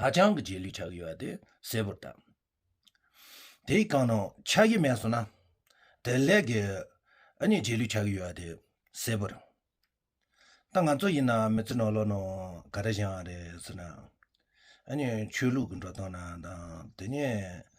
ཧ་ཅང་གི་རྗེས་ལུས་ཆགས་ཀྱི་ཡོད་པ་དེ་གསལ་པོར་བཏགས། དེའི་རྐང་ནང་ཆགས་ཀྱི་མེད་སོང་ན། དེ་ལས་ཀྱི་ཨ་མྱེས་རྗེས་ལུས་ཆགས་ཀྱི་ཡོད་པ་དེ་གསལ་པོར་བཏགས། ད་ང་ཚོ་ཡིན་ན་མི་ཚེ་ནོར་ལོག་ནང་ག་རེ་བཞག་ཨང་རེད་ཟེར་ན། ཨ་མྱེས་ཆོས་ལུགས་ཀྱི་འགྲོ་སྟངས་ན་དང་དེ་ཉིད་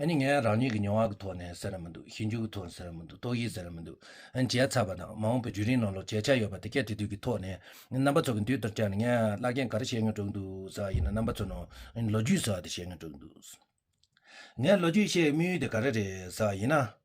ཨ་ནི་ངས་རང་ཉིད་ཀྱི་མྱོང་བ་གི་ཐོག་ནས་ཟེར་ན་མི་འདུག་ཞིབ་འཇུག་གི་ཐོག་ནས་ཟེར་ན་མི་འདུག་རྟོག་ཞིབ་ཟེར་ན་མི་འདུག་བརྗེད་ཚར་བ་དང་མ་འོངས་པའི་བརྒྱུད་རིམ་ནང་ལོ་བརྒྱད་ཆགས་ཡོད་པ་དེ་སྐད་དེ་དུས་ཀྱི་ཐོག་ནས་རྣམ་པ་ཚོ་གི་མདུན་དུ་བསྐྱལ་ནས་ངས་བླ་རྒན་ག་རེ་བཤད་མྱོང་གྲོགས་གི་འདུག་ཟེར་བ་ཡིན་ན་རྣམ་པ་ཚོས་ནོ་ལོ་རྒྱུས་ཟེར་བ་དེ་བཤད་མྱོང་གྲོགས་གི་འདུག་ངས་ལོ་རྒྱུས་བཤད་མུས་ཡུལ་དེ་ག་རེ་རེད་ཟེར་བ་ཡིན་ན།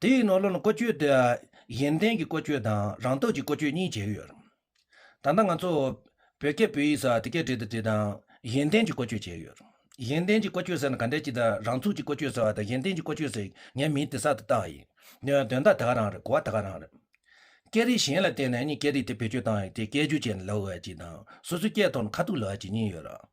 དེའི་ནང་ལོ་ན་བཀོལ་སྤྱོད་དེ་གཞན་བརྟེན་གྱི་བཀོལ་སྤྱོད་དང་རང་རྟོགས་ཀྱི་བཀོལ་སྤྱོད་གཉིས་བྱས་ཡོད། ད་ལྟ་ང་ཚོ་བོད་སྐད་བོད་ཡིག་སོགས་དེ་སྐད་བྲིས་དང་བྲིས་དང་གཞན་བརྟེན་གྱི་བཀོལ་སྤྱོད་བྱས་ཡོད། གཞན་བརྟེན་གྱི་བཀོལ་སྤྱོད་ཟེར་ན་ག་འདྲའི་ཅིག་དང་རང་ཚུགས་ཀྱི་བཀོལ་སྤྱོད་ཟེར་བ་དང་གཞན་བརྟེན་གྱི་བཀོལ་སྤྱོད་ཟེར་ངའི་མིང་དེ་ཟ་དང་བཏགས་ཡིན། དོན་དག་དེ་ག་རང་རེད་གོ་བ་དེ་ག་རང་རེད། སྐད་རིགས་གཞན་ལ་བརྟེན་ནས་ནི་སྐད་རིགས་དེ་བེད་སྤྱོད་བཏང་ཡོད་དེ་སྐད་སྒྱུར་བྱས་ནས་ལབ་བ་བ་ཅིག་དང་སོ་སོའི་སྐད་ཐོག་ནས་ཁ་ཐུག་ལབ་བ་ཅིག་གཉིས་ཡོད།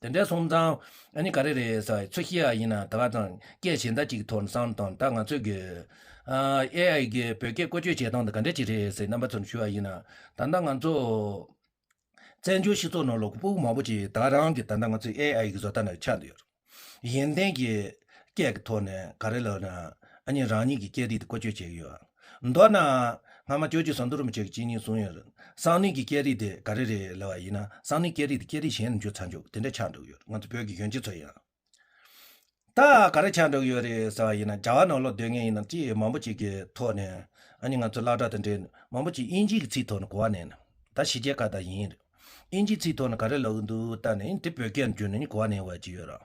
དེ་འདྲའི་སོང་ཙང་ཨ་ནི་ག་རེ་རེད་ས་ཚོད་ཤི་ཡག་ཡིན་ན་ད་ག་ཙང་སྐད་གཞན་དག་ཅིག་ཐོར་སང་དང་ད་ང་ཚོས་གིས AI གིས་བོད་སྐད་བཀོལ་སྤྱོད་བྱེད་སྟངས་དེ་ག་འདྲ་ཅིག་རེད་ཟེར་རྣམ་པ་ཚོར་ཞུ་ཡག་ཡིན་ན་ད་ལྟ་ང་ཚོ་བཙན་བྱོལ་སྤྱི་ཚོགས་ནང་ལོག་པུག་མང་པོ་ཅིག་ད་རང་གིས་ད་ལྟ་ང་ཚོས AI གི་བཟོ་ལྟ་ནང་ཆགས་འདུག་ཡོད་རེད་ཡིན་ཏན་གྱི་སྐད་ཀྱི་ཐོག་ནས་ག་རེ་ལབ་ན་ཨ་ནི་རང་ཉིད་ཀྱི་སྐད་རིགས་དེ་བཀོལ་སྤྱོད་བྱེད་ཀྱི་ཡོད། མདོར་ན། སྔ་མ་ཁྱོད་ཀྱིས་ཟངས་དུར་མི་ཆོད་ཀྱི་གཅིན་སྙིང་བཟུང་ཡོད་རེད། སང་ནུས་ཀྱི་སྐད་རིགས་དེ་ག་རེ་རེད་ལབ་བ་ཡིན་ན་སང་ནུས་སྐད་རིགས་དེ་སྐད་རིགས་གཞན་དུ་འགྱུར་ཚར་འགྱུར་དེ་འདྲ་ཆགས་འགྲོ་གི་ཡོད་རེད་ང་ཚོ་བོད་ཀྱི་གཞོན་སྐྱེས་ཚོ་ཡང་ད་ག་རེ་ཆགས་འགྲོ་གི་ཡོད་རེད་ཟེར་བ་ཡིན་ན་རྒྱ་བ་ནང་ལོག་སྡོད་མཁན་ཡིན་ན་ཅི་མང་པོ་ཅིག་གི་ཐོག་ནས་ཨ་ནི་ང་ཚོ་བླ་གྲྭ་དང་འབྲེལ་མང་པོ་ཅིག་དབྱིན་ཇིའི་གི་ཚིག་ཐོག་ནས་གོ་བ་ནས་ནི་ད་ཕྱི་རྒྱལ་ཁག་དང་ཡིན་རེད་དབྱིན་ཇིའི་ཚིག་ཐོག་ནས་ག་རེ་ལབ་གི་འདུག་ད་ནི་དེ་བོད་སྐད་དུ་འགྱུར་ནས་ནི་གོ་བ་ནས་ཡོང་བ་ཅིག་ཡོད་རེད།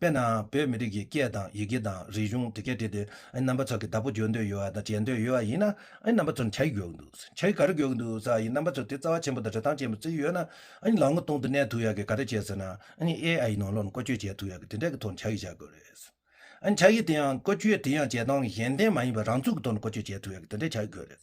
དཔེར་ན། བོད་མི་རིགས་ཀྱི་སྐད་དང་ཡི་གེ་དང་རིག་གཞུང་དེ་གས་བྲིས་ཏེ་རྣམ་པ་ཚོ་གི་བདག་པོ་བརྗོད་འདོད་ཡོད་དང་བྱེད་འདོད་ཡོད་པ་ཡིན་ན། རྣམ་པ་ཚོར་བྱ་ཡི་གོ་འདུག་བྱ་ཡི་ག་རེ་གོ་འདུག་ས་ཡིན་རྣམ་པ་ཚོ་དེ་རྩ་བ་ཆེན་པོ་དང་རེ་ཐང་ཆེན་པོ་བརྩིས་ཡོད་ན། ལག་ངོ་སྟོང་དུ་གནས་ཐུབ་ཡག་གི་ག་རེ་བྱེད་ཟེར་ན། AI ནང་ལོག་ནས་བཀོལ་སྤྱོད་བྱེད་ཐུབ་ཡག་གི་དེ་འདྲ་གི་ཐོག་ནས་བྱ་ཡི་བྱ་དགོས་རེད། བྱ་ཡི་དེ་ཡང་བཀོལ་སྤྱོད་དེ་ཡང་བྱེད་སྟངས་གཞན་ལྡན་མ་ཡིན་པར་རང་ཚུགས་ཀྱི་ཐོག་ནས་བཀོལ་སྤྱོད་བྱེད་ཐུབ་ཡག་གི་དེ་འདྲ་བྱ་དགོས་རེད།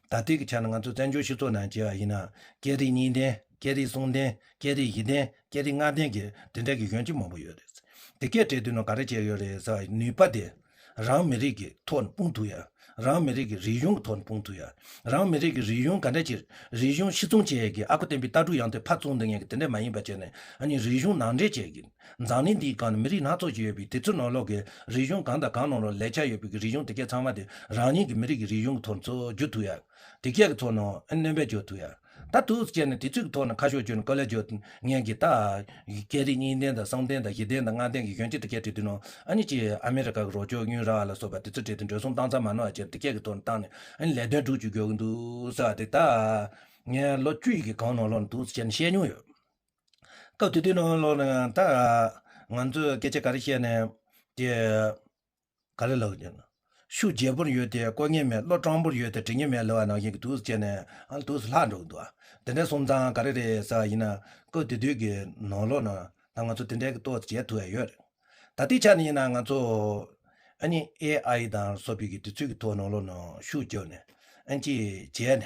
ད་ལྟའི་གི་ཆ་ནས་ང་ཚོ་བཙན་བྱོལ་སྤྱི་ཚོགས་ནང་སྐྱེས་བ་ཡིན་ན། སྐད་རིགས་གཉིས་ལྡན། སྐད་རིགས་གསུམ་ལྡན། སྐད་རིགས་བཞི་ལྡན། སྐད་རིགས་ལྔ་ལྡན་གྱི་དེ་འདྲ་གི་གཞོན་སྐྱེས་མང་པོ་ཡོད་རེད། དེ་སྐད་བྲིས་དུས་ནང་ག་རེ་བྱས་ཡོད་རེད་ཟེར་བ་ནུས་པ་དེ། རང་མི་རིགས་ཀྱི་ཐོག་ནས་སྤུངས་ཐུབ་ཡ། རང་མི་རིགས་ཀྱི་རིག་གཞུང་གི་ཐོག་ནས་སྤུངས་ཐུབ་ཡ། རང་མི་རིགས་ཀྱི་རིག་གཞུང་ག་འདྲ་ཆེ། རིག་གཞུང་ཤི་ཚུང་བྱས་ཡས་ཀྱི་ཨ་ཁུ་བསྟན་པའི་ལྟ་གྲུག་ཡང་དེ་ཕར་ཚུང་འདི་ངས་ཀྱི་དེ་འདྲ་མ་ཡིན་པ་བྱས་ནས་ཨ་ནི་རིག་གཞུང་ནང་འདྲེས་བྱས་ཀྱི། འཛམ་གླིང་འདིའི་སྒང་ནི་མི་རིགས་སྣ་ཚོགས་ཀྱི་ཡོད་པས་དེ་ཚོའི་ནང་ལོགས་ཀྱི་རིག་གཞུང་གང་དང་གང་ནང་ལོགས་ལས་ཆ་ཡོད་པའི་རིག་གཞུང་དེ་གས་ཚང་མ་དེ་རང་ཉིད་ཀྱི་མི་རིགས་ཀྱི་རིག་གཞུང་གི་ཐོག་ནས་འཇོག་ཐུབ་ཡག་དེ་གས་ཀྱི་ཐོག་ནས་གནོན་པས་འཇོག་ཐུབ་ཡག་ད་ཐུགས་སུ་བཅད་ནས་དེ་ཚོས་ཀྱི་ཐོག་ནས་ཁ་ཤོ་གཅོད་ནས་ཀོ་ལེ་འཇོག་ངེས་ཀྱི་ད། སྐད་རིགས་གཉིས་ལྡན་དང་གསུམ་ལྡན་དང་བཞི་ལྡན་དང་ལྔ་ལྡན་གྱི་གཞོན་སྐྱེས་དེ་གས་བྲིས་དེ་ནང་ཨ་ཉི་ཅིས་ཨ་མི་རི་ཀ་གི་རོགས་ཕྱོགས་ཉུལ་ར་བ་ལ་སོགས་པ་དེ་ཚོས་བྲིས་དེ་འགྲོས་སོང་བཏང་ཚར་མ་ནོར་བ་བྱས་ནས་དེ་གས་ཀྱི་ཐོག་ནས་བཏང་ནས་ཨ་ཉི་ལས་དོན་སྒྲུག་ཅིག་འགྱོ་གི་འདུག་ཟེར་བ་དེ་ད། ངས་ལོ་བཅུ་ཡི་གི་གང་ནང་ལོགས་ནས་ཐུགས་སུ་བཅད་ནས་བཤད་མྱོང་ཡོད། སྐབས་དེ་དུས་ནང་བའི་བློ་ཡང་དག་ང་ཚོས་སྐད་ཆ་ག་རེ་བཤད་ནས་དེ་ག་རེ་ལགས་ཀྱི། ཤུགས་རྒྱས་པོར་ཡོད་དེ་བཀོལ་ཉེན་མེད་བློ་སྤྲང་པོར་ཡོད་དེ་དྲི་ཉེན་མེད་ལེ་བ་ནང་བཞིན་གྱི་དུས་སུ་བྱས་ནས་དུས་སུ་ལྷག་འགྲོ་གི་འདུག་དེ་འདྲའི་སོང་ཙང་ག་རེ་རེད་ཟེར་བ་ཡིན་ན་སྐབས་དེ་དུས་ཀྱི་ནང་བློ་ན་ད་ང་ཚོ་དེ་འདྲའི་གི་ཏོག་ཙེ་བྱས་ཐུབ་ཡ་ཡོད་རེད་ད་དེའི་ཆ་ནས་ཡིན་ན་ང་ཚོ་ཨ་ནི AI དང་སོགས་པོའི་གི་དུས་ཚོད་ཀྱི་ཐོག་ནང་བློ་ན་ཤུགས་རྒྱོབ་ནས་ཨན་ཅིག་བྱས་ནས།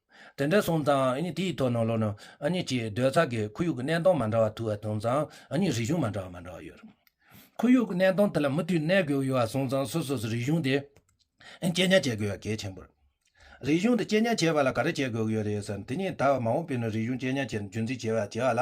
དེ་འདྲ་སོང་ཙང་དེའི་ཐོག་ནང་ལོགས་ན་གཅིག་སྡོད་ཚགས་ཀྱི་ཁོར་ཡུག་གི་གནས་སྟངས་མ་འདྲ་བ་ཐུག་སོང་ཙང་རིག་གཞུང་མ་འདྲ་བ་མ་འདྲ་བ་ཡོད། ཁོར་ཡུག་གི་གནས་སྟངས་དེ་ལ་མུ་མཐུད་གནས་དགོས་ཡོད་སོང་ཙང་སོ་སོས་རིག་གཞུང་དེ་གཅེས་ཉར་བྱེད་དགོས་པ་གལ་ཆེན་པོ་རེད། རིག་གཞུང་དེ་གཅེས་ཉར་བྱེད་པ་ལ་ག་རེ་བྱེད་དགོས་ཀྱི་ཡོད་རེད་ཟེར་ན་དེ་གཉིས་ད་བར་མ་འོངས་པའི་ནང་རིག་གཞུང་གཅེས་ཉར་བྱེད་རྒྱུ་མཚན་བྱེད་པ་བྱེད་ལ།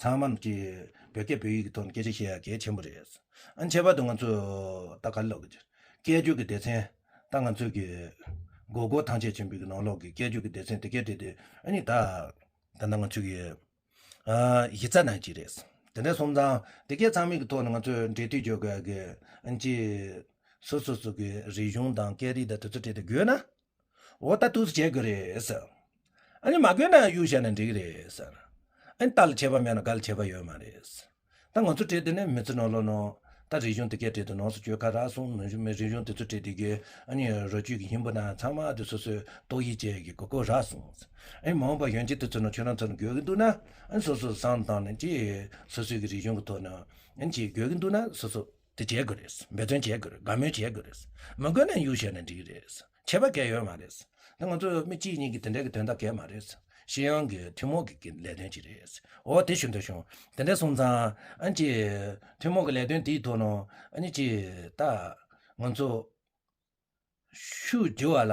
ཚང་མ་གཅིག་བོད་སྐད་བོད་ཡིག་གི་ཐོག་ནས་སྐད་ཆ་བཤད་ཡག་གལ་ཆེན་པོ་རེད། ཨ་ཁྱད་པར་དུ་ང་ཚོ་ད་ག་ལ་ལོག་གི། སྐད་རྒྱུད་ཀྱི་སྡེ་ཚན་ད་ང་ཚོ་གི། གོ་གོ་ཐང་ཆད་ཆེན་པོ་གི་ནང་ལོག་གི་སྐད་རྒྱུད་ཀྱི་སྡེ་ཚན་དེ་གས་དེ་དེ་ཨ་ནི་ད། ད་ནང་ང་ཚོ་གི། གཞི་རྩ་ནང་གཅིག་རེད། དེ་འདྲ་སོང་ཙང་དེ་གས་ཚང་མིག་གི་ཐོག་ནས་ང་ཚོས་འབྲེལ་མཐུད་བྱོས་གལ་ཡག་གི། ཨ་ཅེ། སོ་སོ་སོ་གི་རིག་གཞུང་དང་སྐད་རིག་དང་དེ་ཚོ་བྲལ་ཏེ་དགོས་ན། འོ་ད་ཐུགས་སུ་བྱེད་དགོས་རེད། ཨ་ནི་མ་དགོས་ན་གཡུག་བྱས་ན་འགྲིག་གི་རེད། ཨ་ནི་ཏཱ་ལ་བྱས་པ་མེད་ན་ག་ལ་བྱས་པ་ཡོད་མ་རེད། ད་ང་ཚོ་བྲེལ་དེ་ནས་མི་ཚེ་ནོར་ལོ་ནོ། ད་རིག་གཞུང་དེ་གས་བྲེལ་དེ་ནོར་སོ་ཁྱོད་ཁ་རག་སོང་རིག་གཞུང་དེ་ཚོ་བྲེལ་དེ་གས་ཨ་ནི་རོ་བཅུད་ཀྱི་ཧིན་བོ་ན་ཚང་མ་ཨ་དེ་སོ་སོས་ཏོག་དབྱིབས་ཅན་གྱི་གོ་གོ་རག་སོང། ཨ་ནི་མ་འོངས་པ་གཞོན་སྐྱེས་དེ་ཚོ་ནང་ཆོས་རང་ཚོར་འགོད་གི་འདུག་ན་ཨ་ནི་སོ་སོས་བཟང་དང་ནི་ཅི། སོ་སོའི་གི་རིག་གཞུང་གི་ཐོག་ནས་ཨ་ནི་ཅི་འགོད་གི་འདུག་ན་སོ་སོ། དེ་བྱེད་དགོས་རེད་འབད་བརྩོན་བྱེད་དགོས་རེད་དགའ་མོས་བྱེད་དགོས་རེད་མི་དགོས་ན་གཡུག་བྱས་ནས་འགྲིག་རེད་བྱེད་པ་འགལ་ཡོད་མ་རེད་དེ་ང་ཚོ་མི་གཅིག་གཉིས་ཀྱི་དེ་འདྲ་གི་དོན་དག་འགལ་མ་རེད་ཤི་ཡང་གི་ཐུན་མོང་གི་ལས་དོན་ཅིག་རེད་འོ་དེ་ཞུ་འདི་ཞུ་དེ་འདྲ་གསུང་ཙང་ཨ་ཅེ། ཐུན་མོང་གི་ལས་དོན་དེའི་ཐོག་ནང་ཨ་ནི་ཅེས་ད་ང་ཚོ། ཤུགས་རྒྱུ་བ་ལ།